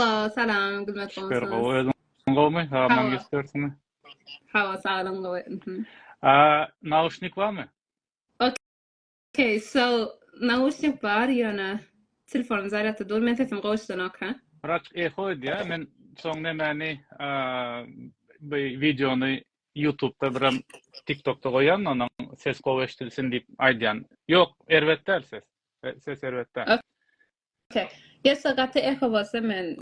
Salam, salam, gülmet bolsun. Süper, gowy, özün gowmy? Ha, maňa geçirsini. Hawa, saglyň gowy. Mhm. A, nauşnik barmy? Okay, so nauşnik bar ýöne telefon zarýadda dur, men sesimi goşdan oka. Raç eho edýär, men soň nemäni, a, bu wideony YouTube-da biram TikTok-da goýan, onuň ses gowy eşidilsin diýip aýdýan. Ýok, erbet däl ses. Ses erbet däl. Okey. Gelse gaty eho bolsa men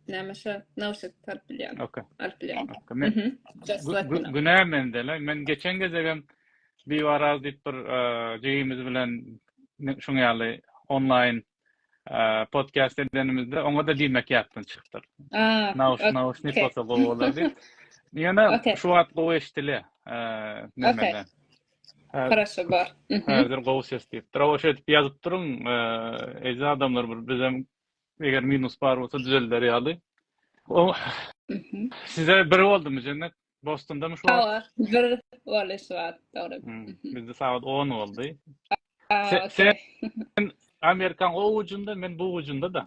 näme şo nauşnik tarp bilýän. Okey. Alyp bilýän. Mhm. Günä mende la. Men geçen gezegem bir waraz diýip bir jigimiz bilen şuň ýaly onlaýn podcast edenimizde oňa da diýmek ýatdan çykdyr. Nauş nauşnik bolsa gowy bolar diýip. Ýöne şu wagt gowy eşdile. Okey. Хорошо bar. Häzir gowy ses diýipdir. Hawa şeýdip ýazyp duruň. Eje adamlar bir bizem eger minus bar bolsa düzelder ýaly. O Size bir boldumy Jennet? Bostondamy şu wagt? Hawa, bir boldy şu wagt, dogry. Bizde sagat 10 boldy. Sen Amerikan o ucunda, men bu ucunda da.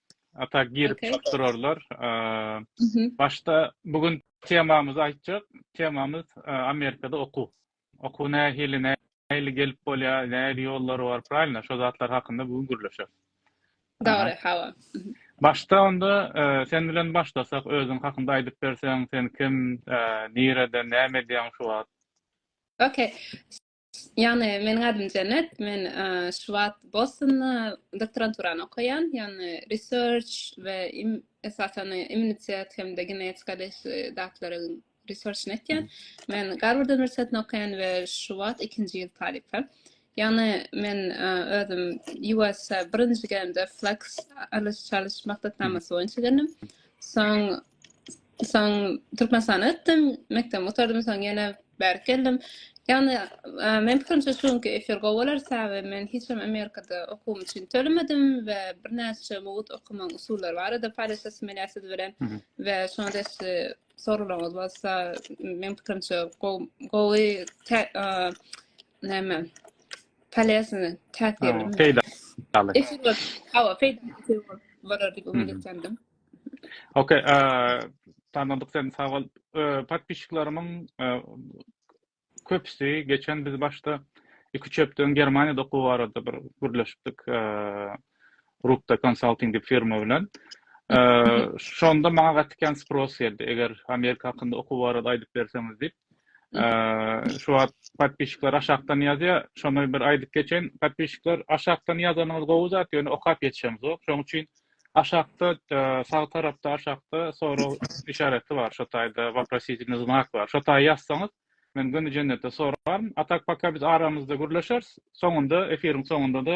Ata girip okay. çykyp durarlar. Ee, başda bugün temamyzy aýtjak. Temamyz e, Amerikada okuw. Okuw nähili, nähili gelip bolýar, nähili ýollary bar, prawilno? Şo zatlar hakynda bugün gürleşer. Dogry, hawa. Başda onda e, sen bilen başlasak, özüň hakynda aýdyp berseň, sen kim, e, nireden, näme edýäň şu wagt? Okay. Ýagny meniň adym Jennet, men şu wagt Bostonda doktoranturany okaýan, ýagny research we esasan immunitet hem-de genetika datlaryň researchini etýän. Men Garward uniwersitetinde okaýan we şu wagt ikinji ýyl talypy. Ýagny men e, özüm US birinji gelende Flex alyş çalyş maksatnamasy boýunça geldim. Soň Soň Türkmenistana gitdim, mekdebi gutardym, soň ýene bärik geldim. Ýagny, men pikirimçe şu günki efir gowy bolar, sebäbi men hiç hem Amerikada okuwym üçin tölemedim we birnäçe mugt okamagyň usullary barada paýlaşasym gelýär siz bilen we şoňa degişli soraglaryňyz bolsa, men pikirimçe gowy näme polesini täsirli. Peýdaly. Efir bolar diýip umyt edýändim. Okey, tanadyk sen sag bol. Podpişiklerimiň köpüsi geçen biz başda iki üç hepde öň Germaniýada okuw barada bir gürleşipdik. Rupta konsalting diýip firma bilen. Şonda maňa gaty kän spros geldi. Eger Amerika hakynda okuw barada aýdyp berseňiz diýip. Şu wagt podpişikler aşakdan ýazýar. Şony bir aýdyp geçeýin. Podpişikler aşakdan ýazanyňyz gowy zat, ýöne okap ýetişemzok. Şonuň üçin Aşakda sag tarapda aşakda sorag işareti bar şo taýda waprositelny znak bar şo taýa ýazsaňyz men göni jennetde soraryn a tak paka biz aramyzda gürleşeris soňunda efiriň soňundada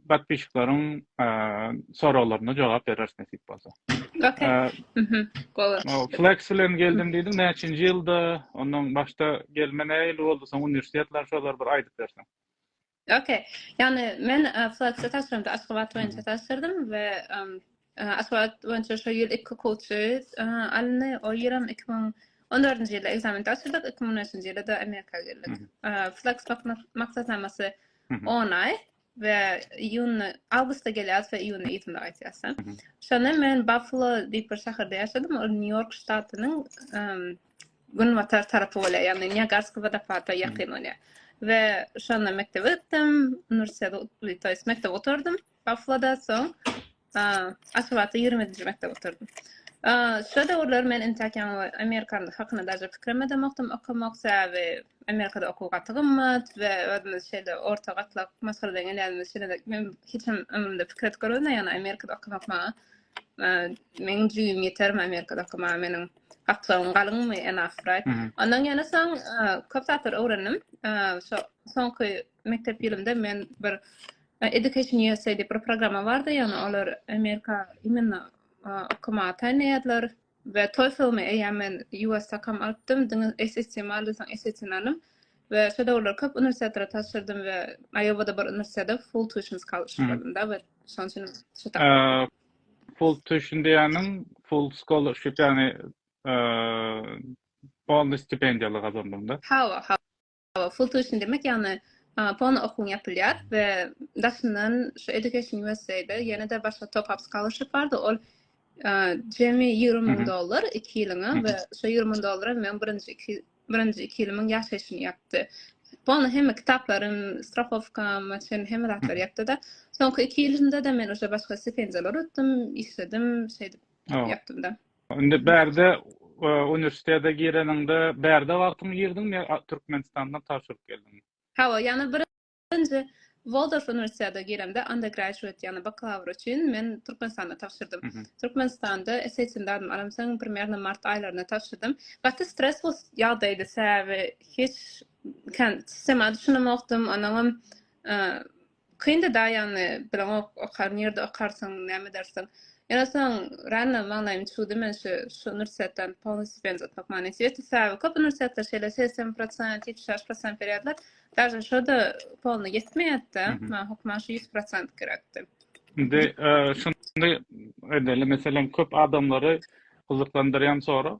patpişiklaryň soraglaryna jogap bereris nesip bolsa ok flex bilen geldim diýdim näçinji ýylda ondan başda gelme näýli boldy soň uniwersitetler şolar bir aýdyp berseň Ok, ýagny men Fluxy tabşyramda Aşgabat boýunça tabşyrdym we Aşgabat boýunça şo ýyl iki kouçy alyndy. O ýerim iki müň on dördünji ýylda ekzamen tabşyrdyk, iki müň on üçünji ýylda-da Amerika geldik. Flux maksatnamasy on aý we iýun, awgustda gelýäs we iýunda ýitmde gaýtýas. Şonda men Buffalo diýip bir şäherde ýaşadym, ol Nýu-Ýork ştatynyň Günbatar tarapy bolýar, ýagny Niagarski wodopada ýakyn bolýar. We şonda mekdebe gitdim, uniwersitete gitdim, toýs mekdebe oturdym. Bafloda soň Aşgabatda 20-nji mekdebe oturdym. Şo döwürler men intäk ýaňy Amerikanyň hakyna daşy pikirem edemokdym, okamak, sebäbi Amerikada okuw gaty gymmat we özümiz şeýle orta gatlak maşgaladan gelýänimiz üçin men hiç hem ömrümde pikir edip görmedim, ýagny Amerikada okamak maňa, meniň jübim ýetermi Amerikada okamaga meniň Gapdagyň galyňmy and after right. Ondan ýene soň köp zatlar öwrendim. Şo soňky mekdep ýylymda men bir Education USA diýip bir programma bardy, ýagny olar Amerika imенно okamaga taýynlaýardylar. we TOEFL-mi eýýäm men USAKM alypdym, diňe SAT-mi aldy, soň SAT-ni alym we şo döwürler köp uniwersitetlara tabşyrdym we Iowa-da bir uniwersitetde full tuition scholarship aldym-da we şonuň üçin şo tap. Full tuition diýeniň full scholarship ýagny polny stipendiýaly gazandyňda. Hawa, hawa. Full tuition demek ýagny polny okuwyň ýapylýar we daşyndan şu Education USA-da ýene-de başga top up scholarship bardy. Ol jemi ýigrimi müň dollar iki ýylyňa we şu ýigrimi müň dollara men birinji iki Birinji iki ýylymyň ýaşaýşyny ýapdy. Polny hemme kitaplarym, strahowkam, çenli hemme zatlary ýapdy-da. Soňky iki ýylynda-da men uje başga stipendiýalar utdum, işledim, şeýdip ýapdym-da. Indi bärde uniwersitete gireniňde bärde wagtyň girdiňmi ýa Türkmenistanda tabşyryp geldiňmi? Hawa, ýagny bir Birinji Waldorf uniwersitete giremde undergraduate ýagny bakalawr üçin men Türkmenistanda tabşyrdym. Türkmenistanda SAT-ni dadym alamsoň primernam mart aýlarynda tabşyrdym. Gaty stresli ýagdaýdy sebäbi hiç kän sistema düşünemokdym onuňam kyndy da ýagny bileňok okar nirde okarsyň näme edersiň. Ýöne soň random maňlaýym çuwdy men şu şu uniwersitetden polny stipendiýa utmak manysyýetdi sebäbi köp uniwersitetler şeýle segsen prosent ýetmiş bäş prosent berýärler Daže şoda polny ýetmeýätde, maňa hukman şu 100% gerekdi. Indi şunda edeli meselem köp adamlary gyzyklandyrýan sora.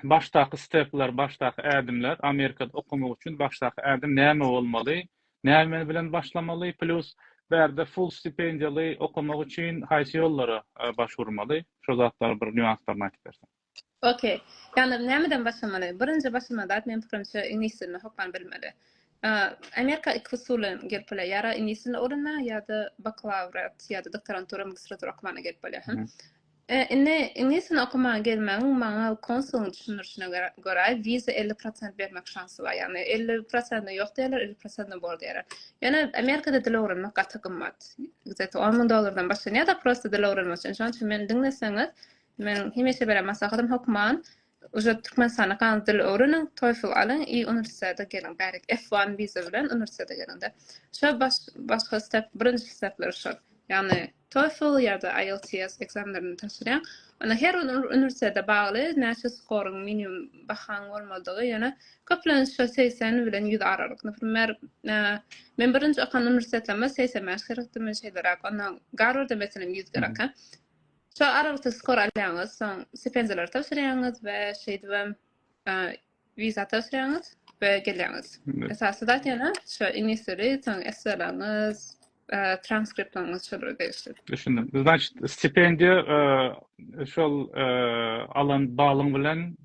Başdaky stepler, başdaky ädimler Amerikada okamak üçin başdaky ädim näme bolmaly? Näme bilen başlamaly? Plus bärde full stipendiýaly okamak üçin haýsy ýollara başwurmaly? Şo zatlar bir nýuanslaryny aýdyp berseň. Ok. Ýagny nämeden başlamaly? Birinji başlamaly zat meniň pikirimçe iňlis dilini hökman bilmeli. Amerika iki usul bilen gelip bolýar. Ýara iňlis dilini öwrenmäge ýa-da bakalawriat ýa-da doktorantura, magistratura okamaga gelip bolýar. Hä? Indi iňlis dilini okamaga gelmegiň maňa konsulyň düşündirişine görä wiza 50 prosent bermek şansy bar. Ýagny 50 prosentine ýok diýerler, 50 prosentine bor diýerler. Ýöne Amerikada dil öwrenmek gaty gymmat. Gzet on müň dollardan başlanýar-da prosta dil öwrenmek üçin. Şonuň üçin meni diňleseňiz, Meniň hemişe beren maslahatym hökman Uje Türkmenistanda galyň dil öwreniň, TOEFL alyň i uniwersitete geliň bärik F one wiza bilen uniwersitete geliňde. Şo başga step birinji stepler şol. Ýagny TOEFL ýa-da IELTS ekzamenlerini tapşyrýaň. Onda her bir uniwersitete bagly näçe skoryň minimum bahaň bolmalydygy ýöne köplenç şo segsen bilen ýüz aralyk. Naprimer men birinji okan uniwersitetleme segsen bäş gerekdi men şeýleräk ondan Garwarda meselem ýüz gerek. Şol aralykda skor alýaňyz, soň stipendiýalary tabşyrýaňyz we şeýdibem wiza tabşyrýaňyz we gelýäňiz. Esasy zat ýene şu iňlis dili, soň esselaňyz, transkriptlaryňyz şolara degişli. Düşündim. Значит, stipendiýa şol alan balyň bilen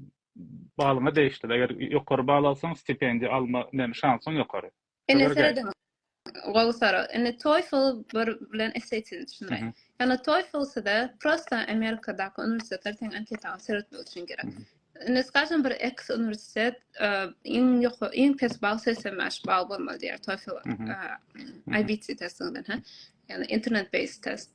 balyňa degişli. Eger ýokary bal alsaň, stipendiýa alma şansyň ýokary. Indi serediň. Gowy sora. Indi TOEFL bir bilen SAT-ni düşünme. Ýani TOEFL size prosta Amerikadaky uniwersitetler teň anketany seretmek üçin gerek. Indi skažem bir X uniwersitet e, iň ýokary iň pes bal 85 bal bolmaly diýär TOEFL e, IBT testinden ha. Ýani internet based test.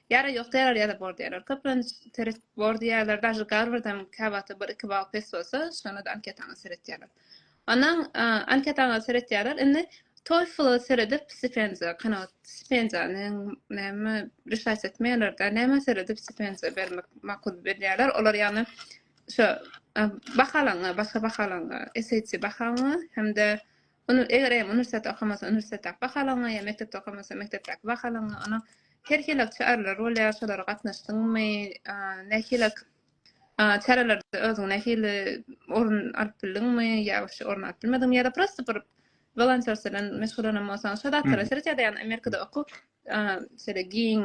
Ýara ýok däl ýa-da bor diýýärler. Köplenç seret bor diýýärler. Daža Garwardam käwagta bir iki bal pes bolsa, şonda-da anketaňa seretýärler. Ondan anketaňa seretýärler. Indi TOEFL-a seredip stipendiýa kanagat stipendiýany näme reşaýat etmeýärler-de, nämä seredip stipendiýa bermek makul bilýärler. Olar ýagny şu bahalaňa, başga bahalaňa, SAT bahaňa hem-de Ony eger eýem uniwersitet okamasa uniwersitetdäki bahalaryňa ýa mekdepde okamasa mekdepdäki bahalaryňa ony her hili çäreler bolýar şolara gatnaşdyňmy nähili çärelerde özüňi nähili orun alyp bildiňmi ýa wapşe orun alyp bilmediňmi ýa-da prosta bir wolontýorstw bilen meşgullanan bolsaň şo zatlara seret ýa-da ýa-da amerikada okuw şeýle giň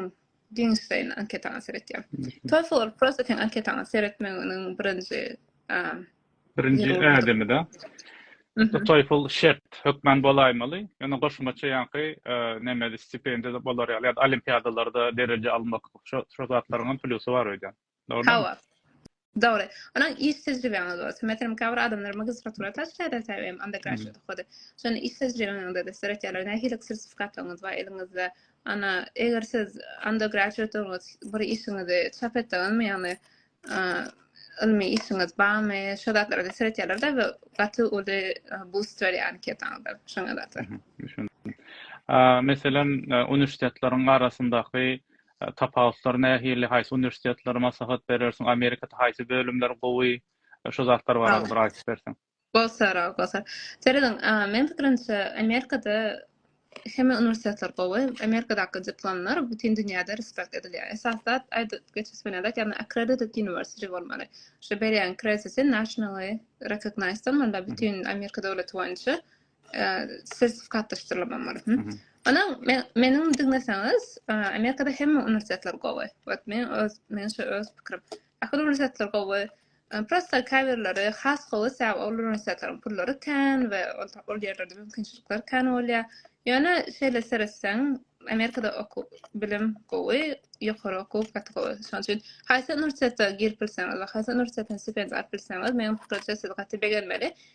Giňiş saýyny anketaňa seretýär. Toefl prosta sen anketaňa seretmegiň birinji birinji ädimi da. Toefl şert hökman bolaýmaly. Ýöne goşmaça ýaňky nemeli stipendiýa bolar ýaly ýa-da olimpiadalarda dereje almak şu zatlaryň hem plýusy bar öýdýän. Hawa. Dogry. Onuň iş tejribeňiz bolsa, meselem, käbir adamlar magistratura taşlaýar-da sebäbi undergraduate okuwda. Şonda iş tejribeňizde-de size öýtýärler, nähili sertifikatlaryňyz bar eliňizde, ana, eger siz undergraduate-dygyňyz bir işiňizi çap etdiňizmi, ýagny ylmy işiňiz barmy, şo zatlara-da seretýärler-de we gaty uly bust berýär anketaňyza şoňa zatlar. Düşündim. Meselem, uniwersitetleriň arasyndaky Tapawutlar nähili, haýsy uniwersitetlere maslahat berersiň, Amerikada haýsy bölümler gowy, şu zatlar barada bir aýdyp berseň. Gossara, gossara. Serediň, meň pikirimçe, Amerikada hemme uniwersitetler gowy. Amerikadaky diplomlar bütin dünýäde respekt edilýär. Esasy zat, aýdyp geçesi bilen zat, ýagny accredited university bolmaly. Şu berýän krediti nationally recognized bolmaly, bütin Amerika döwleti boýunça sertifikatlaşdyrylmam bar. Ana men meniň diňleseňiz, Amerikada hemme uniwersitetler gowy. Wagt men öz men şu öz pikirim. Ahir uniwersitetler gowy. Prosta käbirleri has gowy säw ol uniwersitetleriň pullary kän we ol ýerlerde mümkinçilikler kän bolýar. Ýöne şeýle seretseň, Amerikada okuw, bilim gowy, ýokary okuw gaty gowy. Şonuň üçin haýsy uniwersitete girip bilseňiz we haýsy uniwersitetiň stipendiýasyny alyp bilseňiz, meniň pikirimçe siz gaty begenmeli.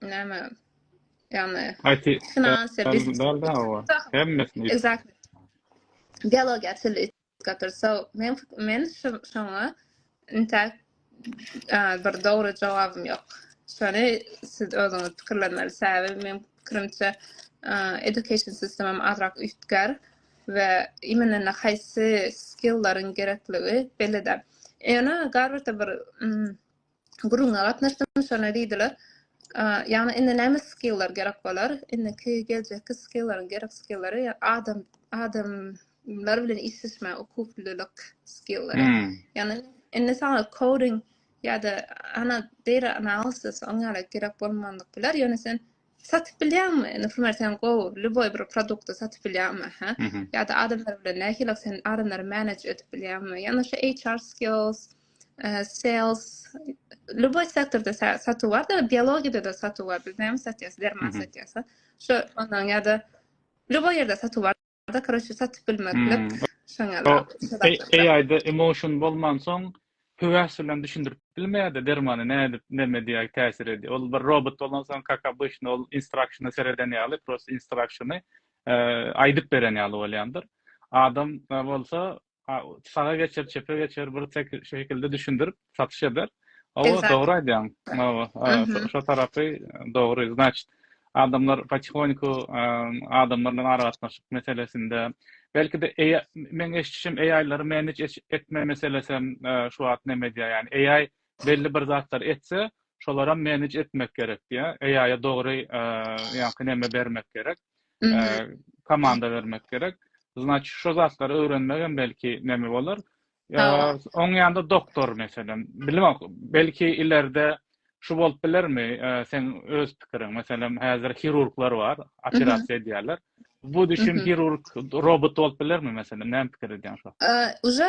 näme ýagny finansiýa biznes hemmesini exactly biologiýa tili gatyr so men men şoňa inta bir dogry jogabym ýok şony siz özüňiz pikirlenmeli sebäbi men pikirimçe education sistemim azrak üýtgär we imенно na haýsy skilllaryň gerekligi belli-de. Ýöne garwyrda bir gürrüňe gatnaşdym, şonda diýdiler, ýagny indi näme skillar gerek bolar, indiki geljekki skillar, gerek skillary adam adamlar bilen işleşmä ukuplylyk skillary. Hmm. Ýagny indi sana coding ýa-da ana data analysis oňa gerek bolmandyk biler, ýöne sen Satyp bilýäňmi? Naprimýr, sen gowy lýuboý bir produkty satyp bilýäňmi, hä? Ýa-da adamlar bilen nähili sen adamlary manage edip bilýäňmi? Ýa-da şo HR skills, sales, lýuboý sektorda satuw bar-da, biologiýada-da satuw bar. Biz näme satýas? Derman satýas-a? Şo ondan ýa-da lýuboý ýerde satuw bar. da kroçe satyp bilmeklik. Hmm. Şoňa da. AI-da emotion bolman soň höwes bilen düşündirip bilmeýärdi dermany nädip näme diýär täsir edýär. Ol bir robot bolan soň kaka obычny ol instructiony sereden ýaly prosta instructiony e, aýdyp beren ýaly bolýandyr. Adam bolsa saga geçer, çepe geçer, bir tek şu şekilde düşündirip satyş eder. O dogry aýdýaň. Mawa, şu tarapy dogry. Znaçt, adamlar patihoniku adamlar bilen aragatnaşyk meselesinde, belki de eý, men eşitmişim eýlary men hiç etme meselesem şu wagt näme edýär? Ýani eý Belli bir zatlar etse şolaram menedj etmek gerek diýä AI-a dogry ýaňky neme bermek gerek komanda bermek gerek znaçi şo zatlary öwrenmegem belki neme bolar oň ýanda doktor meselem bilemok belki ilerde şu bolup bilermi sen öz pikiriň meselem häzir hirurglar bar operasiýa edýärler bu düşün hirurg robot bolup bilermi meselem näme pikir edýäň şo уже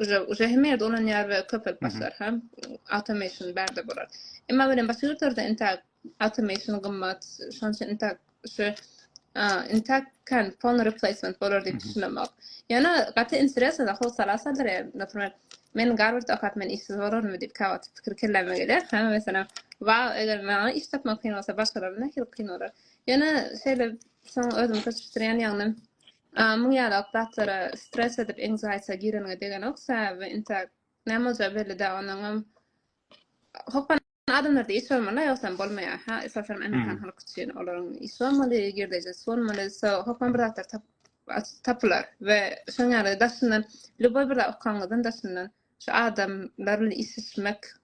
Uje uje hemme ýerde ulanýar we köpelip başlar hem automation bärde bolar. Emma welin başga ýurtlarda intak automation gymmat, şonuň üçin intak şu intak kan pony replacement bolar diýip düşünemok. Ýöne gaty interesno da howsala asadyr. Naprimär, men Garward okap men işsiz bolarmy diýip käwagt pikir kelläme gelýär. Hä, meselem, wa eger maňa iş tapmak kyn bolsa, başgalara nähili kyn bolar. Ýöne şeýle soň özümi köşeşdirýän ýagny Muň ýaly okdatlara stress edip anxiety gireniňe degenok sebäbi intak näme boljagy belli däl onuňam hopan adamlarda iş bolmaly ýogsam bolmaýar ha esasanam amerikan halky üçin olaryň iş bolmaly girdejisi bolmaly so hopan bir zatlar tapyp tapylar we şoň ýaly daşyndan lýuboý bir zat okanyňyzdan daşyndan şu adamlar bilen işleşmek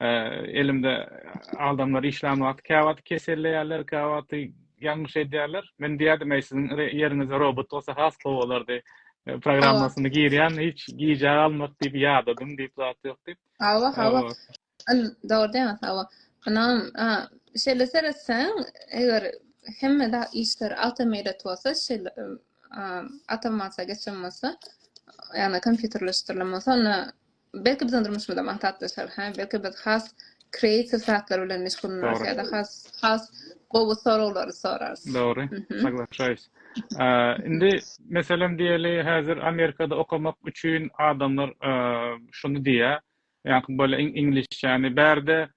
elimde adamlar işlän wagty käwagty keselleýärler, käwagty ýalňyş edýärler. Men diýerdim, eý siziň ýeriňizde robot bolsa has gowy bolardy. E, programmasyny girýän hiç gijä galmak diýip ýadadym diýip zat ýok diýip. Hawa, hawa. An dogry diýýän hawa. Anam, şeýle seretseň, eger hemme da işler awtomatat bolsa, şeýle awtomatize geçen bolsa, ýagny kompýuterleşdirilen bolsa, onda Belki biziň durmuşymyza matlaplaşar, hä? Belki biz has kreatiw zatlar bilen meşgullanarys ýa-da has has gowy soraglary sorarys. Dogry. Saglaşaýs. Indi meselem diýeli, häzir Amerikada okamak üçin adamlar şuny diýýär, ýa-da bol iňlisçäni bärde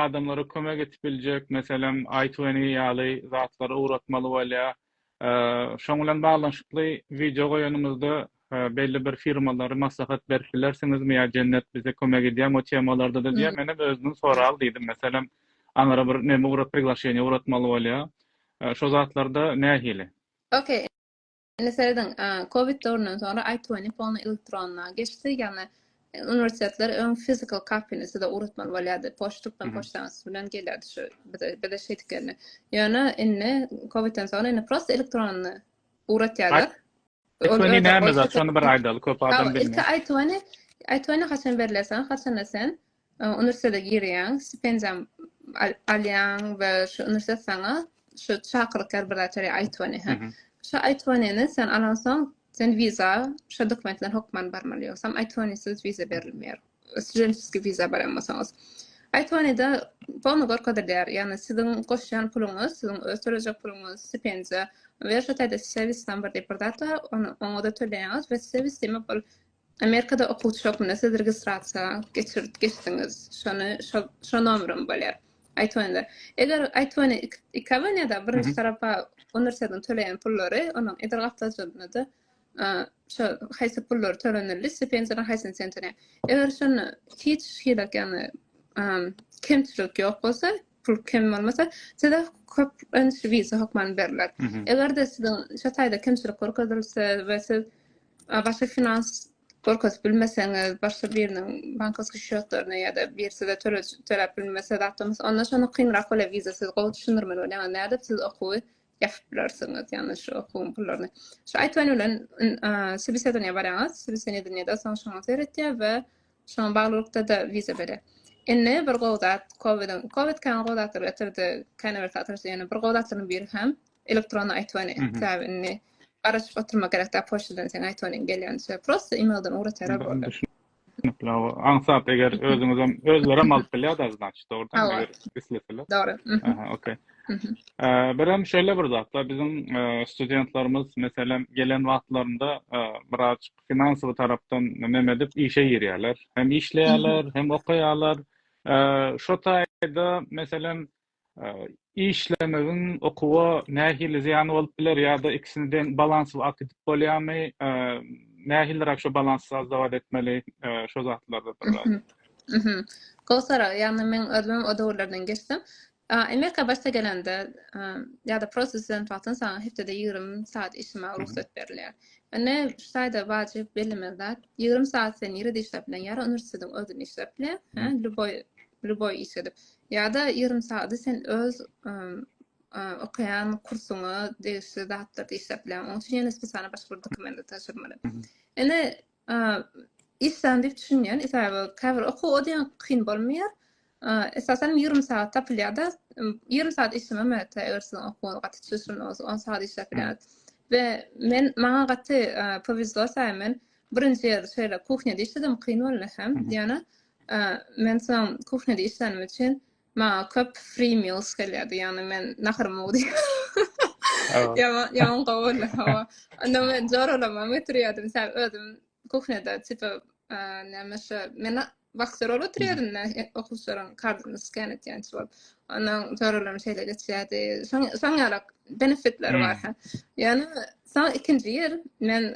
adamlara kömek edip biljek, meselem, i-twenty ýaly zatlary ugratmaly bolýar. Şoň bilen baglanyşykly wideo goýanymyzda belli bir firmalary maslahat berip bilersiňizmi ýa Jennet bize kömek edýärmi o temalarda-da diýýär. Men hem özümden soraly diýdim. Meselem, aňra bir neme ugrat priglaşeniýe ugratmaly bolýar. Şo zatlarda nähili? Okey. Indi serediň, covid döwründen soňra iTwenty polny elektronda geçdi, ýagny Uniwersitetler öň physical copyny size ugratmaly bolýardy. Poçtdan poçtaňyz bilen gelýärdi şu bize bize şeýdip geldi. Ýöne indi COVIDden soň indi prosta elektronny ugratýarlar. Ony näme zat? Şony bir aýdaly, köp adam bilmeýär. Ilki aýtwany, aýtwany haçan berler sen? Haçanda sen e, uniwersitete girýäň, stipendiýa alýaň we şu uniwersitet saňa şu çakyryklar bir zat berýär aýtwany. Şu aýtwanyny sen alansoň Sen wiza şo dokumentler hokman barmaly ýogsam iTwentysiz wiza berilmeýär. Studentskiý wiza barýan bolsaňyz. iTwentyda pony gorkadylýar. Ýagny siziň goşýan puluňyz, siziň öz tölejek puluňyz, stipendiýa we şo taýda service number diýip bir zat bar, ony oňa-da töleýäňiz we service diýmek ol Amerikada okuwçy hökmünde siz registrasiýa geçirt geçdiňiz. Şony şo şo nomerem bolýar. Aýtwende. Eger aýtwende ik iki abonýada birinji tarapa uniwersitetiň töleýän pullary, onuň edil gapdalynda-da a şo haýsy pullar tölenildi, stipendiýanyň haýsyny sen töleýäň. Eger şonda hiç hili ýagny a kemçilik ýok bolsa, pul kem bolmasa, size köp öňüsli wiza hökmany berler. Eger-de siziň şu taýda kemçilik görkezilse we siz başga finans görkezip bilmeseňiz, başga biriniň bankowski şýotlaryny ýa-da bir size töleg töläp bilmese zatlamysa, onda şonda kynrak bolýar wiza. Siz gowy düşündirmeli bolýaňyz, nädip siz okuwy ýapyp bilersiňiz, ýagny şu okuwyň pullaryny. Şu aýtgany bilen, sobesedowaniýa barýaňyz, sobesedowaniýa-da soň şoňa seredýär we Şoňa baglylykda-da wiza berer. Indi bir gowy zat, COVIDiň, covid kän gowy zatlar getirdi, kän bir satyjy ýöne bir gowy zatlaryň biri hem elektron aýtwany, sebäbi indi garaşyp oturmak gerek däl, poçtadan seň aýtwanyň gelýän düşýär, prosta emailden ugratýarlar boldy. Düşünikli, aňsat eger özüňizem, özlerem alyp bilýär dagy znaçyt, dogrudanmy, Hawa. eger isleseler? Dogry. Aha, okey. Birem şeýle bir zatlar, biziň studentlerimiz, meselem, gelen wagtlarynda birazajyk finansowy tarapdan näme edip işe girýärler. Hem işleýärler, hem okaýarlar. Şo taýda meselem işlemegiň okuwa nähili zyýany bolup biler ýa-da ikisini deň balansly akdip bolýarmy? Nähiliräk şo balansy sazdawat etmeli? Şo zatlarda biraz. Gowy sorag. Ýagny men özüm o döwürlerden geçdim. Amerika başda gelende ýa-da prosta student wagtyn saňa hepdede ýigrimi saat işlemäge rugsat berilýär. Indi şu taýda wajyp bellemeli zat, ýigrimi saat sen nirede işläp bilen, ýa-da uniwersitetiň özünde işläp bile, hä, lýuboý, lýuboý iş edip, ýa-da ýigrimi saady sen öz okaýan kursuňa degişli zatlarda işläp bilen, onuň üçin ýene spesialny başga bir dokumenti tabşyrmaly. Indi Islan diýip düşünýän, esaby käbir okuw o diýen kyn bolmaýar. Esasan 20 sagat tapylýar-da, 20 sagat işlemem ýa-da eger siziň okuwyňyz gaty çylşyrymly bolsa, 10 sagat işläp bilersiň. We men maňa gaty powezlo sähe men birinji ýerde şeýle kuhnýada işledim, kyn boldy hem. Ýöne men soň kuhnýada işlänimi üçin Maňa köp free meals gelýärdi, ýagny men naharymy ugdy. Ýaman, ýaman gowuly, hawa. Onda men joralamam getirýärdim, sen özüm kuhneda, tipa, näme şu, men vaksa rol oturýardym da, okuwçylaryň kardyny sken etýänçi bolup. Ondan joralam şeýle geçýärdi. Şoň, şoň ýalak benefitleri bar. Ýöne, soň ikinji ýer men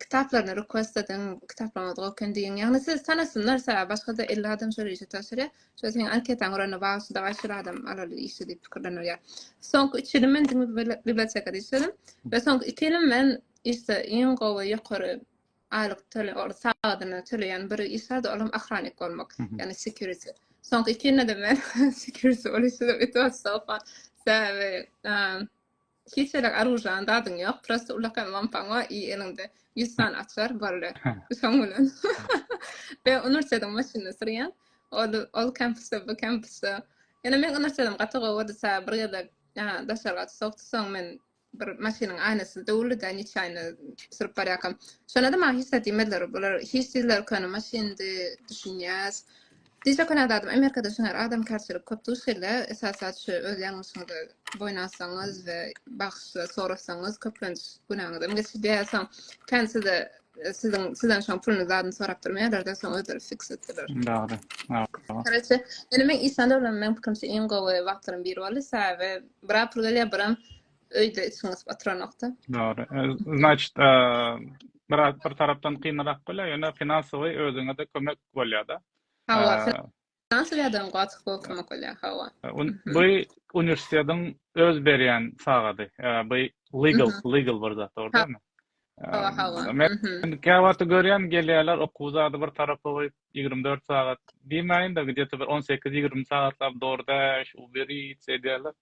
kitaplaryny request ediň, kitaplaryňyzy gowy eken diýiň. Ýagny siz tanasynlar sä, başga-da elli adam şol işe tabşyrýar. Şol seniň anketaňy görende wah şu dagaş şol adam alaly işe diýip pikirlenerýär. Soňky üç ýyly men diňe bir bibliotekada işledim we soňky iki ýyly men işde iň gowy ýokary aýlyk töle ol sagadyna töleýän bir iş bardy, olam ahranik bolmak, ýagny security. Soňky iki ýylda men security bolup işledim, it was so fun. Sebäbi Hiç ýerik aružýany dadyň ýok prosta ulakan lampaňa i eliňde ýüz sany açar boldy şoň bilen we unursýadym maşynda sürýän ol ol kempusda bu kempusda ýöne men unursýadym gaty gowy disa bir gezek daşary gaty sowukdy soň men bir maşynyň aýnasy döwüldi da niçaýna sürüp barýakam şonda da maňa hiç zat diýmediler bular hiç diýdiler köne maşyndy düşünýäs Dicle Köne Azadym Amerikada şunar adamkarçylyk köp duş gelýä esasat şu öz ýalňyşyňyzy boýun alsaňyz we bagşyşlar sorasaňyz köplenç günäňizem geçip ýa soň kän size siziň sizden şoň puluny zadyny sorap durmaýarlarda soň özleri fiks etdiler. Dogry. Karate. Ýöne men işlände bilen meň pikirimçe iň gowy wagtlaryň biri boldy. Sebäbi bir apyl gelýär, biram öýde içiňiz oturanokda. Dogry. E, Значит, e, biraz bir tarapdan kynrak bolýar, ýöne finansowy özüňe-de kömek bolýar-da. Hawa, e, finansowy ýagdaýyň gowy bolup kömek bolýar, hawa. E, bu uniwersitetiň öz berýän sagady. Bu legal, legal bir zat, dogrudanmy? Hawa, hawa. Men käwagt görýän gelýärler okuw zady bir tarapa goýup 24 sagat diýmäýin-de, gidýär bir 18-20 sagatlap dogry däş, uberit edýärler.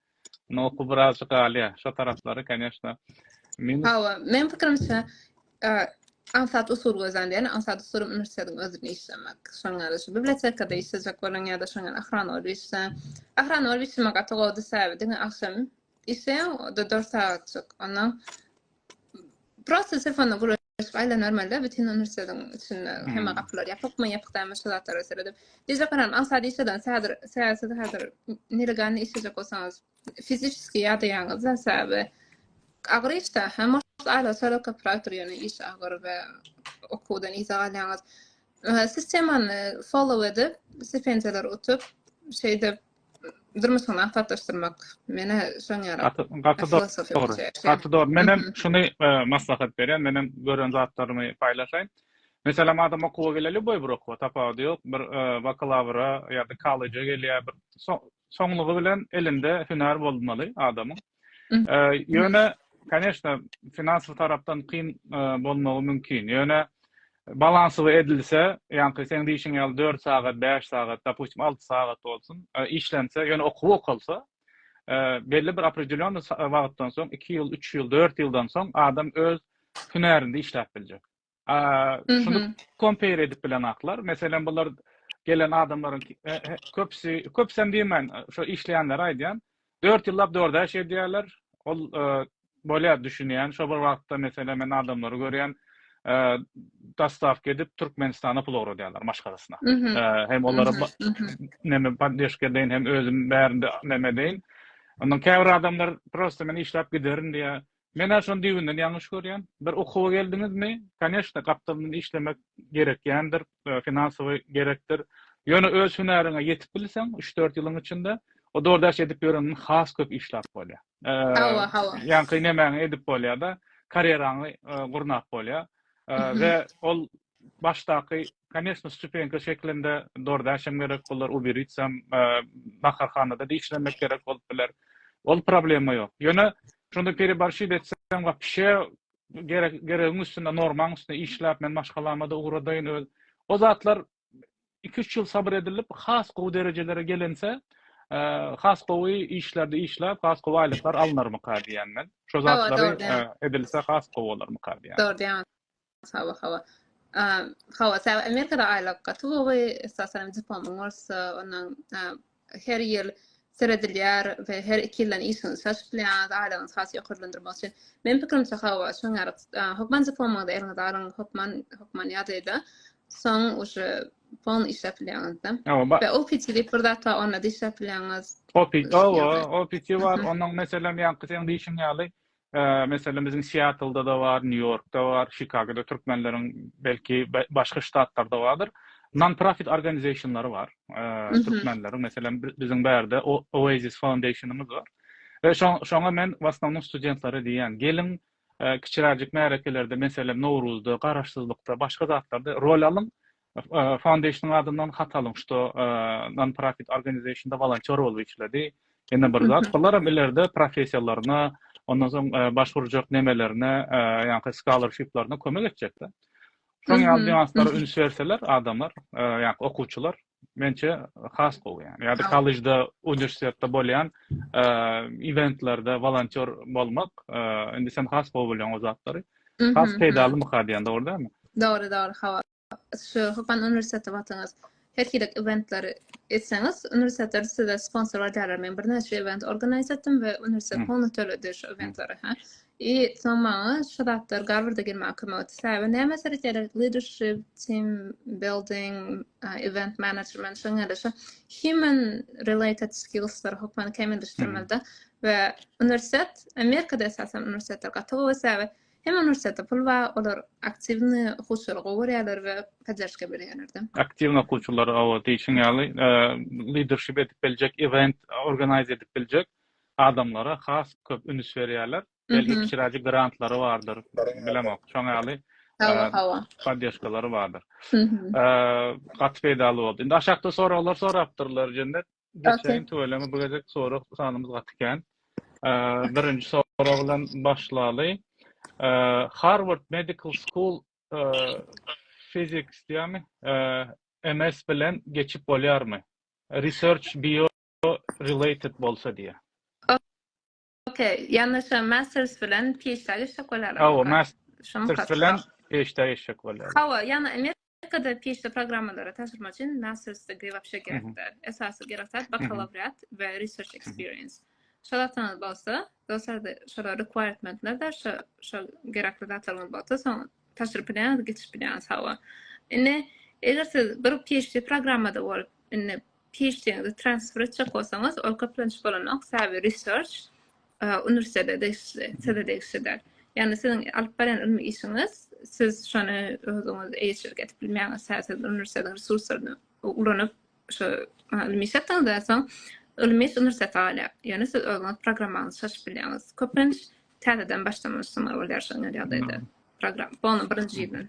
Noku birazjyk galýa. Şo taraplary koneşna minus. Hawa, meň pikirimçe, aňsat usul gözlendi. Ýani aňsat usuly uniwersitetiň özünde işlemek. Şonuň ýaly şu bibliotekada işlejek boluň ýa-da şoň ýaly ahranol işleň. Ahranol işlemek gaty gowudy sebäbi diňe agşam işleýäň, o-da dört sagatjyk. Ondan prosta telefonda gürleşip. Gaçyp aýla normalda bütün uniwersitetiň içinde hemme gapylar ýapykmy ýapyk dämi şu zatlara seredip. Dije garam aňsat işleden häzir säsiz häzir nelegalny işlejek bolsaňyz fiziçiski ýadaýaňyz da säbi agyr işde hem aýla solo kopyrator ýöne iş agyr we okuwdan yza galýaňyz. Sistemany follow edip stipendiýalar utup şeýdip durmuşyňy maksatlaşdyrmak. Menä şoň ýaly. Gaty dogry. Gaty dogry. Menem şuny maslahat berýän. Menem gören zatlarymy paýlaşaýyn. Meselem adam okuwa geleli lýuboý bir okuwa tapawudy ýok. Bir bakalawra ýa-da kolleja gelýär. Soňlugy bilen elinde hünär bolmaly adamyň. Ýöne, koneşna, finansiýa tarapdan kyn bolmagy mümkin. Ýöne, balansowy edilse, ýaňky seň diýşiň ýaly dört sagat, bäş sagat, dopustim, alty sagat bolsun, işlense, ýöne okuw okalsa, belli bir opredelýony wagtdan soň, iki ýyl, üç ýyl, dört ýyldan soň adam öz hünärinde işläp biljek. Şuny kompere edip bilenaklar. Meselem, bular gelen adamlaryň köpüsi, köpüsem diýmän, şo işleýänleri aýdýan. 4 ýyllap dörde iş edýärler. Ol bolýar düşünýän. Şo bir wagtda meselem men adamlary görýän. Dostawka edip Türkmenistana pul ugradýarlar maşgalasyna. Hem olara näme poddeşka deýin, hem özüm bärinde näme deýin. Ondan käbir adamlar prosta men işläp giderin diýýär. Men-ä şony düýbünden ýalňyş görýän. Bir okuwa geldiňizmi, koneşna, gapdalyndan işlemek gerekýändir, finansowy gerekdir. Ýöne öz hünäriňe ýetip bilseň, üç-dört ýylyň içinde, o DoorDash edip ýöreniň has köp işläp bolýar. Hawa, hawa. Ýaňky nemäňi edip bolýar-da, karýeraňy gurnap bolýar. We ol başdaky Koneşno, stupenka şeklinde DoorDash hem gerek bolar, Uber Eats hem, naharhanada da işlemek gerek bolup biler. Ol problema ýok. Ýöne şonda pereborşit etseň wapşe geregiň üstünde, normaň üstünde işläp, men maşgalama-da ugradaýyn, öz. O zatlar iki-üç ýyl sabyr edilip, has gowy derejelere gelinse, has gowy işlerde işläp, has gowy aýlyklar alynarmyka diýýän men. Şo zatlary edilse has gowy bolarmyka diýýän. Hawa, hawa. Hawa, sebäbi Amerikada aýlyk gaty gowy, esasanam diplomyň bolsa, ondan her ýyl seredilýär we her iki ýyldan işiňizi çalşyp bilýäňiz, aýlygyňyzy has ýokarlandyrmak üçin. Meniň pikirimçe, hawa, şoň ýaly. Hökman diplomuňyzy eliňize alyň, hökman, hökman ýadada, soň uje pol işläp bilýäňiz-de. We OPT diýip bir zat bar, onda-da işläp bilýäňiz. OPT, hawa, OPT bar, onuň meselem ýaňky seň diýşiň ýaly, Meselem, biziň Siatlda-da bar, Nýu-Ýorkda bar, Çikagoda türkmenleriň, belki, başga ştatlarda bardyr. Non-profit organizationlary bar, türkmenleriň. Meselem, biziň bärde Oasis Foundation-ymyz bar. We şoňa men w asnownom studentlara diýýän, geliň, kiçiräjik märekelerde, meselem, Nowruzda, Garaşsyzlykda, başga zatlarda rol alyň, Foundation adyndan hat alyň, şto non-profit organizationda wolontýor bolup işledi. Ýene bir zat, bularam ileride professiýalaryna, ondan soň başwurjak nemelerine, ýaňky scholarship-laryna kömek etjek-de. Şoň ýaly nýanslara üns berseler adamlar, ýaňky okuwçylar, mençe has gowy ýa. Ýa-da kollejde, uniwersitetde bolýan eventlerde wolontýor bolmak, indi sen has gowy bilýäň o zatlary. Has peýdalymyka diýen, dogry dälmi? Dogry, dogry, hawa. şu Hypan uniwersiteti batyňyz her hili eventleri etseňiz, uniwersitetler size sponsor berýärler. Men birnäçe event organize etdim we uniwersitet pulny töledi şu eventlere. Ha. I soň maňa şu zatlar Garwarda girmäge kömek etdi. Sebäbi näme seretýärler? Leadership, team building, uh, event management, şoň ýaly şu human related skillslar hökmany kämilleşdirmeli we uniwersitet Amerikada esasan uniwersitetler gaty gowy sebäbi Hem uniwersitete pul bar, olar aktiwny okuwçylary gowy görýärler we poddержка berýärler-de. Aktiwny okuwçylary oba diýşiň ýaly lidership edip biljek, event organize edip biljek adamlara has köp ünüs berýärler. Belki kiçiräjik grantlary bardyr, bilemok. Şoňa ýaly poddержkalary bardyr. Gaty peýdaly boldy. Indi aşakda soraglar sorapdyrlar Jennet. Geçeýin tüweleme bu gezek sorag sanymyz gaty kän. Birinji sorag bilen başlaly. Harvard Medical School physics diýämi? MS bilen geçip bolýarmy? Research bio related bolsa diýä. Okey, ýalnyşam masters bilen PhD geçjek bolýarlar. Hawa, masters bilen PhD geçjek bolýarlar. Hawa, ýa Amerika Amerikada PhD programmalara taşyrmak üçin master's degree wapşe gerekdir. Esasy gerek zat bakalawriat we research experience. Şol zatdan bolsa, dostlar da şolar requirementler de şo şo gerekli zatlar bolsa, soň taşyryp bilen geçip bilen sawa. Indi eger siz bir PhD programmada bolup, indi PHD-ňizi transfer etjek bolsaňyz, ol köplenç bolanok, sebäbi research uniwersitete degişli, size degişli däl. Ýagny siziň alyp barýan ylmy işiňiz, siz şony özüňiz eýeçilik edip bilmeýäňiz, sebäbi siz uniwersitetiň resurslaryny ulanyp, şo ylmy iş etdiňizden soň, ylmy iş uniwersitete galýar. Ýöne siz özüňiz programmaňyzy çaşyp bilýäňiz. Köplenç täzeden başlamalysy bolýar şonda ýagdaýda program. Bolna birinji ýyldan.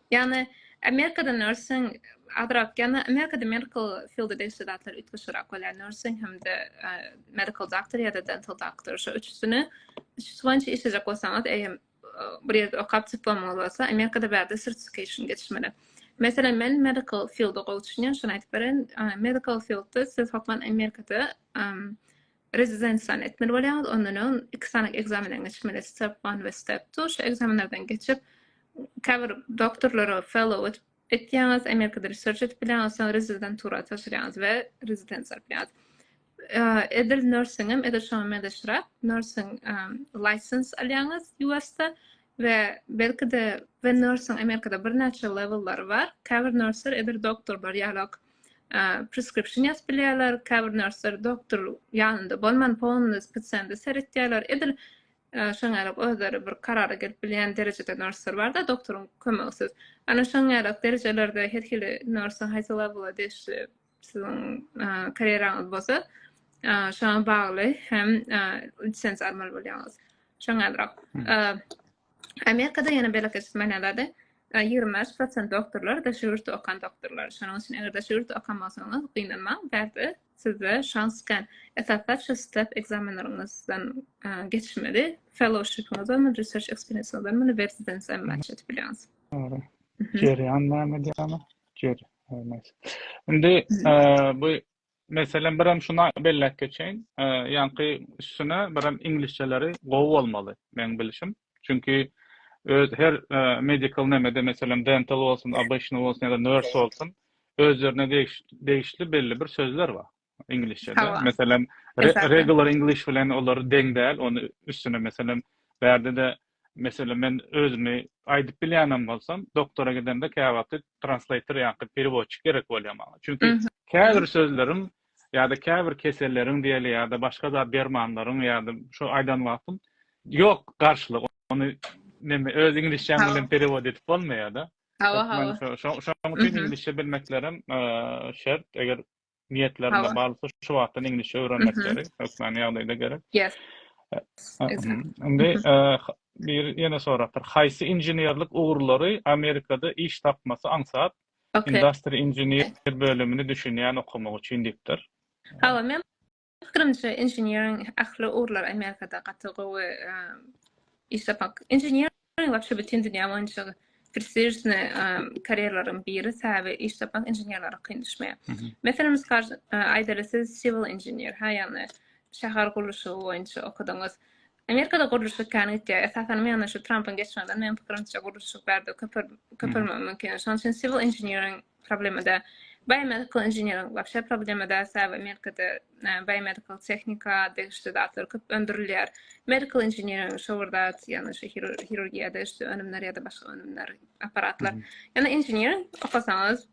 Ýagny Amerikada nursing azrak, ýagny Amerikada medical field degişli zatlar üýtgeşigrak bolýar. Nursing hem-de medical doctor ýa-da dental doctor şu üçüsini şu boýunça işlejek bolsaňyz, eýem bir ýerde okap diplomy bolsa, Amerikada bärde certification geçmeli. Meselem, men medical field-a gowy düşünýän, şony aýdyp beren, medical field-de siz hökman Amerikada Rezidensiýany etmeli bolýaňyz, ondan öň iki sany ekzamenden geçmeli, step one we step two. Şu ekzamenlerden geçip, käbir doktorlara fellow edip etýäňiz, Amerikada research edip bilýäňiz, soň rezidentura tabşyrýaňyz we rezidensiýa alyp bilýäňiz. Edil nursingem, edil şoňa meňzeşräk, nursing license alýaňyz US-da we belki-de we nursing Amerikada birnäçe lewellary bar. Käbir nurslar edil doktorlar ýalak preskripsiýon ýazyp bilýärler, käbir nörsler doktor ýanynda bolman, fonda, spesialnda seretýärler. Edil şoňa ýarak özleri bir karara gelip bilýän derejede nörsler bar-da, doktoryň kömegisiz. Ana şoňa ýarak derejelerde her hili nörsiň haýsy lewela degişli siziň karýeraňyz bolsa, şoňa bagly hem lisenziýa almaly bolýaňyz. Şoňa ýarak. Amerikada ýene beýleki smenalary ýigrimi bäş prosent doktorlar daşary ýurtda okan doktorlar. Şonuň üçin eger daşary ýurtda okan bolsaňyz, gynanmaň, bärde sizde şans kän. Esaslar şu step ekzamenleriňizden geçmeli, fellowshipiňizden we research experience-iňizden muny rezidensiýa match edip bilýäňiz. Dogry. Jerýan näme diýýärler? Jer, näme. Indi bu Meselem birem şuny belläp geçeýin, ýaňky üstüne birem iňlisçeleri gowy bolmaly, meň bilşim. Çünki öz her medical nemede meselem dental bolsun, obычny bolsun ýa-da nurse bolsun özlerine degişli belli bir sözler bar iňlisçede. Meselem regular english bilen olar deň däl, ony üstüne meselem bärde-de Meselem, men özümi aýdyp bilýänem bolsam, doktora gidende käwagty translator ýa-da perewodçik gerek bolýar maňa. Çünki käbir sözleriň ýa-da käbir keselleriň diýeli ýa-da başga zat dermanlaryň ýa-da şu aýdan wagtym ýok garşylygy. Ony neme öz iňlisçäň bilen perewod edip bolmaýar-da. Hawa, hawa. Şoň üçin iňlisçe bilmeklerem şert. Eger niýetlerinde barlykda şu wagtdan iňlisçe öwrenmek gerek, hökmany ýagdaýda gerek. Ýes. Indi bir ýene sorapdyr. Haýsy inženerlik ugurlary Amerikada iş tapmasy aňsat, industry engineer bölümini düşünýän okamak üçin diýipdir. Hawa, men Pikirimçe inženeriň ähli ugurlar Amerikada gaty gowy iş tapak. Inžener wapşe bütin dünýä boýunça prestižne karýeralaryň biri säbe iş tapak inženerlere kyn düşmeýär. Meselem biz aýdaly siz civil inžener ha ýagny şäher gurluşygy boýunça okadyňyz. Amerikada gurluşyk kän gitýär. Esasan men şu Trumpyň geçmegden men pikirimçe gurluşyk bärde köpelmegi mümkin. Şonuň üçin civil inženeriň problemada biomedical engineering wapşe problemada sebäbi amerikada biomedical tehnika degişli zatlar köp öndürilýär medical engineering şowur zat ýagny şu hirurgiýa degişli önümler ýa-da başga önümler apparatlar ýagny engineering okasaňyz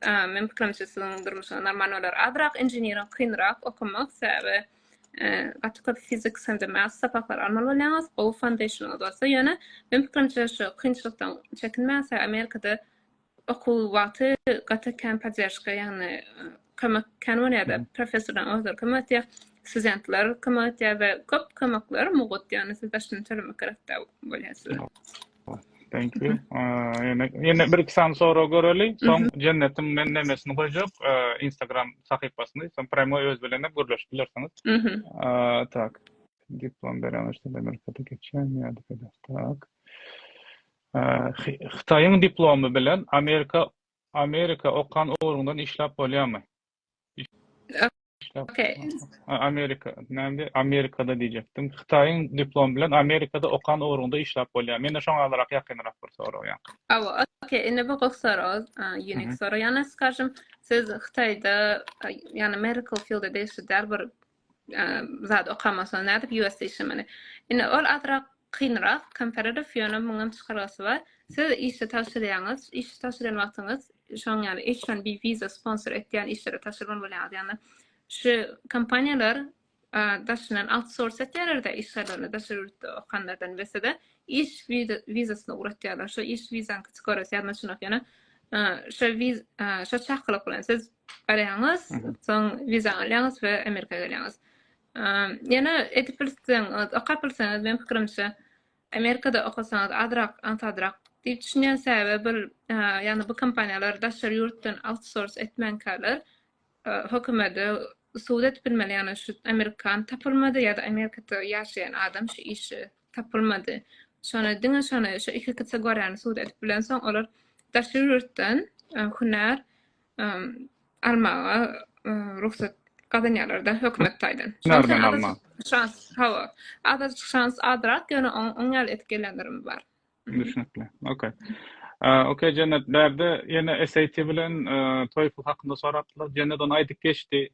men pikirimçe siziň durmuşyňyz normal bolar azrak engineering kynrak okamak sebäbi gaty köp fizik hem de math sapaklary almaly bolýaňyz gowy foundationyňyz bolsa ýöne men pikirimçe şu kynçylykdan çekinmäň sebäbi amerikada okuw wagty gaty kän podderşka, ýagny kömek kän bolýar-da. Professorlaryň özleri kömek edýär, studentler kömek edýär we köp kömekler mugt, ýagny siz daşyny tölemek gerek-de bolýar size. Thank you. Ýene, ýene bir-iki sany sorag göreli. Soň Jennetiň men nemesini goýjak, Instagram sahypasyny, soň prýamoý öz bilen hem gürleşip bilersiňiz. Tak. Diplom beremizde Amerikada geçýän ýa-da beýle. Tak. Hytaýyň diplomy bilen Amerika Amerika okan ugruňdan işläp bolýamy? Okey. Amerika, näme? Amerikada diýjekdim. Hytaýyň diplomy bilen Amerikada okan ugruňda işläp bolýar. Mende şoňa azarak ýakynrak bir sorag ýaňky. Awa, okey. Indi bu gowy sorag, unik sorag. Ýagny, skažem, siz Hytaýda, ýagny medical field-de işledýär bir zat okamasaň nädip usda işlemeli indi ol azrak kynrak komparativ ýöne muňam çykalgasy bar siz işe tabşyrýaňyz işe tabşyrýan wagtyňyz şoň ýaly eýç one bi wiza sponsor etýän işlere tabşyrmaly bolýaňyz ýagny şu kompaniýalar daşyndan autsource etýärlerde işgärlerini daşary ýurtda okanlardan wsd iş wizasyny ugratýarlar. Şo iş wizaňy çykaryp, ýa maşyna ýöne şo wiz şo çakylyk bilen siz barýaňyz, soň wiza alýaňyz we Amerika gelýäňiz. Ýöne edip bilseň, okap bilseňiz, men pikirimçe, Amerikada okasaňyz azrak, ansadrak diýip düşünýän sebäbi bir, ýagny bu kompaniýalar daşary ýurtdan outsource etmänkäler, hökümede subut edip bilmeli, ýagny şu amerikan tapylmady ýa-da Amerikada ýaşaýan adam şu işi tapylmady. Şony, diňe şony, şu iki kategoriýany sud edip bilensoň, olar daşary ýurtdan hünär almaga rugsat gazanýarlar-da hökümet taýdan. Hünärmen almak. Şans, hawa. Azajyk şans azrak, ýöne oň ýaly edip gelenlerem bar. Düşnükli. Okey. Okey, Jennet, bärde ýene SAT bilen TOEFL hakynda sorapdylar. Jennet ony aýdyp geçdi.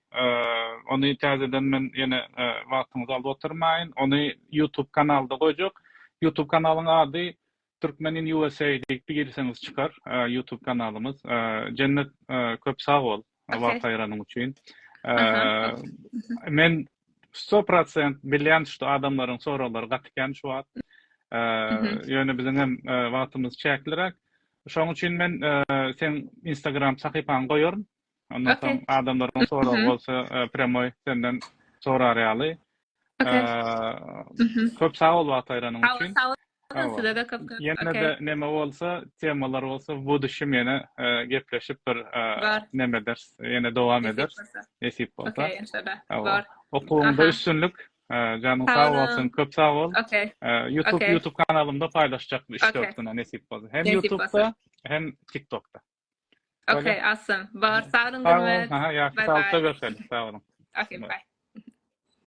Ony täzeden men ýene wagtyňyzy alyp oturmaýyn. Ony YouTube kanalda goýjak. YouTube kanalyň ady Türkmen in USA diýip girseňiz çykar YouTube kanalymyz. Jennet, köp sag bol. Wagt aýranyň üçin. Men 100% bilýän şu adamlaryň soraglary gaty kän şu wagt. Ýöne biziň hem wagtymyz çäkliräk. Şonuň üçin men sen Instagram sahypaňy goýaryn. Ondan soň adamlaryň soragy bolsa premoi senden sorar ýaly. Köp sag bol wagt aýranyň üçin. Sag boluň size-de köp köp. Ýene-de neme bolsa, temalar bolsa bu düşüm ýene gepleşip bir neme ederis, ýene dowam ederis. Nesip bolsa. Okuwyňda üstünlik. Janyň sag bolsun. Köp sag bol. Youtube Youtube kanalymda paýlaşjak bu üç-dört güne nesip bolsa. Hem Youtubda, hem TikTokda. Okey, awesome. Bar, sag boluň, Gurmet. Sag boluň. Ýagşy sag bolupda görşeliň. Sag boluň. Okey, bye.